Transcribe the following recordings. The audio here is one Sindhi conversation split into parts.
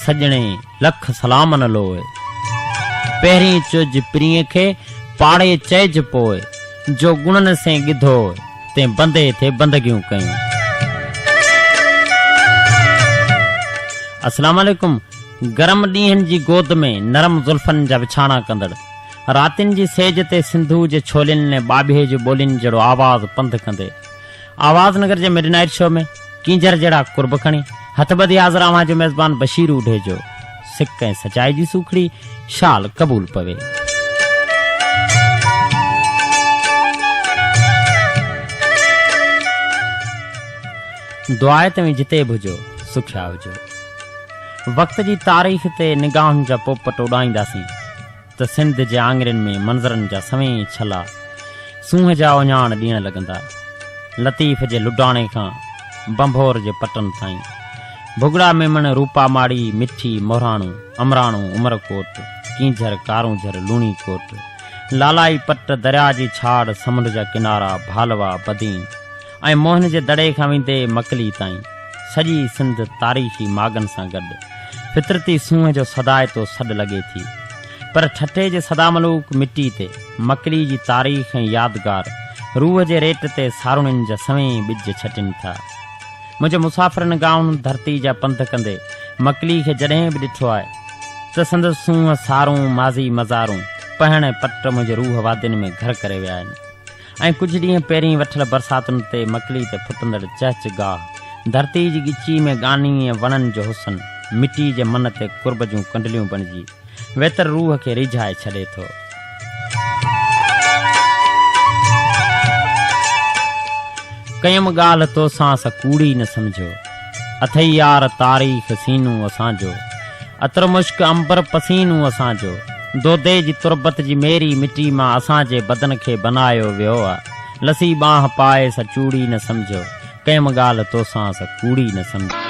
سڄڻي لک سلامن لوء. پهرين چئج پرينء کي، پاڙي چئج پوء. جو گڻن سين ڳڌو، تين بندي تي بندگيون ڪيون. السلام عليڪم گرم ڏينهن جي گود ۾ نرم زلفن جا وڇاڻا ڪندڙ راتين جي سيج تي سنڌوء جي ڇولين ۾ ٻاٻيهي جي ٻولين جهڙو آواز پنڌ ڪندي آواز نگر جي مڊ نائيٽ شو ۾ ڪينجهر جهڙا قرب کڻي هٿ ٻڌي حاضر اوهان جو ميزبان بشير اوڍيجو سڪ ۽ سچائي جي سوکڙي شال قبول پوي. دعا آهي توهين جتي به هجو سکيا هجو. وقت جي تاريخ تي نگاهن جا پوپٽ اڏائينداسين ته سنڌ جي آڱرين ۾ منظرن جا سوين ڇلا سونهن جا اهڃاڻ ڏيڻ لڳندا. لطيف جي لڊاڻي کان ڀنڀور جي پٽن تائين، ڀڳڙا ميمڻ، روپا ماڙي، مٺي، مهراڻو، امراڻو، عمرڪوٽ، ڪينجهر، ڪارونجهر، لوڻي ڪوٽ، لالائي پٽ، درياء جي ڇاڙ، سمنڊ جا ڪنارا، ڀالوا، بدين، ۽ موهن جي دڙي کان ويندي مڪلي تائين سڄي سنڌ تاريخي ماڳن سان گڏ فطرتي سونهن جو سدائتو سڏ لڳي ٿي پر ٺٽي جي سداملوڪ مٽي تي مڪلي جي تاريخ ۽ يادگار روح جي ريٽ تي ساروڻين جا سوين ٻج ڇٽين ٿا منهنجي مسافرن گائون ڌرتي جا پنڌ ڪندي مڪلي کي جڏهن به ڏٺو آهي ته سندس سونهن سارون ماضي مزارون پهڻ ۽ پٽ منهنجي روح وادين ۾ گهر ڪري ويا آهن ۽ ڪجهه ڏينهن پهرين وٺل برساتن تي مڪلي تي ڦٽندڙ چهچ گاهه، ڌرتي جي ڳچي ۾ ڳاني ۽ وڻن جو حسن، مٽي جي من تي قرب جون ڪنڊليون بڻجي، ويتر روح کي ريجهائي ڇڏي ٿو. ڪيم ڳالهه توسان سا ڪوڙي نه سمجهيو. اٿئي يار تاريخ سينو اسان جو. عطر مشڪ عنبر پسينو اسان جو. دودي جي تربت جي ميري مٽي مان اسان جي بدن کي بنايو ويو آ. لسي ٻانهه پائي سا چوڙي نه سمجهيو. ڪيم ڳالهه توسان سا ڪوڙي نه سمجهيو.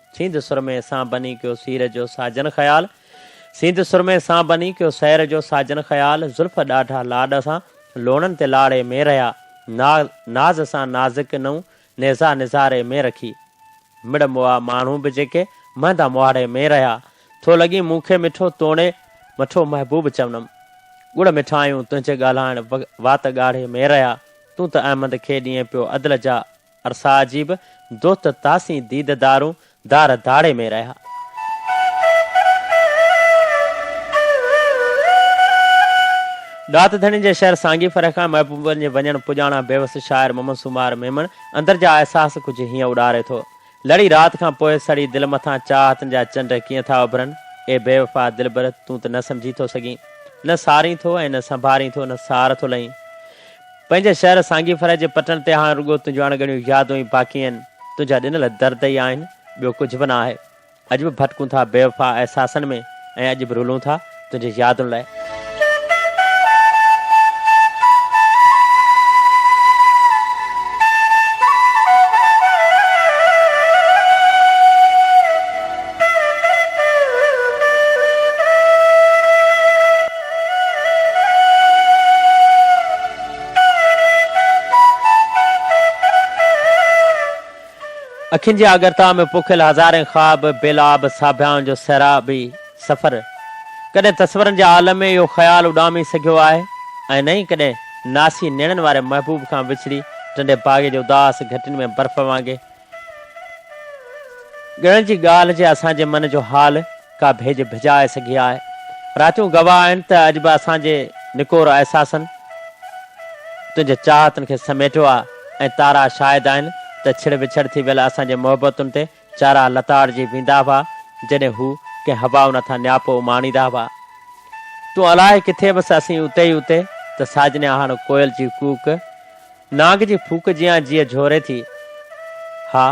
سينڌ سرمي سان بني ڪيو سير جو ساجن خيال سينڌ سرمي سان بني ڪيو سير جو ساجن خيال زلف ڏاڍا لاڏ سان لوڻن تي لاڙي ۾ رهيا نا ناز سان نازڪ نئون نيزا نظاري ۾ رکي مڙ مئا ماڻهو به جيڪي مهندا مهاڙي ۾ رهيا ٿو لڳين مون کي مٺو توڻي مٺو محبوب چونم ڳڙ مٺايون تنهنجي ڳالهائڻ وات ڳاڙهي ۾ رهيا تون ته احمد کي ڏينهن پيو عدل جا ارسا عجيب، دوت تاسين ديد دارون، دار داڙي ۾ رهيا. ڏات ڌڻين جي شعر سانگي فرح کان محبوبن جي وڃڻ پڄاڻان بيوس شاعر محمد سومار ميمڻ اندر جا احساس ڪجهه هيئن اڏاري ٿو، لڙي رات کان پوء سڙي دل مٿان چاهتن جا چنڊ ڪيئن ٿا اڀرن، اي بيوفا دلبر تون ته نه سمجهي ٿو سگهين، نه سارين ٿو ۽ نه سنڀارين ٿو نه سار ٿو لهين. پنهنجي شهر سانگي فرح جي پٽڻ تي هاڻ رڳو تنهنجون اڻڳڻيون يادون ئي باقي آهن، تنهنجا ڏنل درد ئي آهن، ٻيو ڪجهه به نه آهي. اڄ به ڀٽڪون ٿا بيوفا احساسن ۾ ۽ اڄ به رلون ٿا تنهنجي يادن لاء. اکين جي آڳرتا ۾ پوکيل هزارين خواب، بيلاب ساڀيان جو سهرابي سفر. ڪڏهن تصورن جي عالم ۾ اهو خيال اڏامي سگهيو آهي ۽ نه ئي ڪڏهن ناسي نيڻن واري محبوب کان وڇڙي ٽنڊي باغي جي اداس گهٽين ۾ برف وانگي ڳڻ جي ڳالهه جي اسان جي من جو حال ڪا ڀيڄ ڀڄائي سگهي آ. راتيون گواهه آهن ته اڄ به اسان جي نڪور احساسن تنهنجي چاهتن کي سميٽيو آ ۽ تارا شاهد آهن ته ڇڙ وڇڙ ٿي ويل اسان جي محبتن تي چارا لتاڙجي ويندا هئا جڏهن هو ڪنهن هوائن هٿان نياپو اماڻيندا هئا تون الاهي ڪٿي بس اسين اتي ئي اتي ته ساجنيا هاڻ ڪوئل جي ڪوڪ نانگ جي ڦوڪ جيان جيء جهوري ٿي. ها،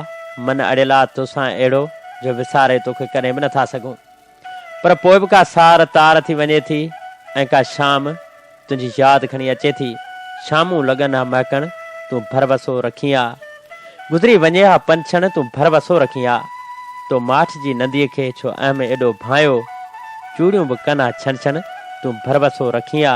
من اڙيلا توسان اهڙو جو وساري توکي ڪڏهن به نٿا سگهون. پر پوء به ڪا سار تار ٿي وڃي ٿي ۽ ڪا شام تنهنجي ياد کڻي اچي ٿي. شامون لڳن ها مهڪڻ، تون ڀروسو رکين ها. گذري وڃي ها پنڇڻ، تون ڀروسو رکين ها. تو ماٺ جي ننديء کي ڇو اهم ايڏو ڀانئيو. چوڙيون به ڪن ها ڇڻ ڇڻ، تون ڀروسو رکين ها.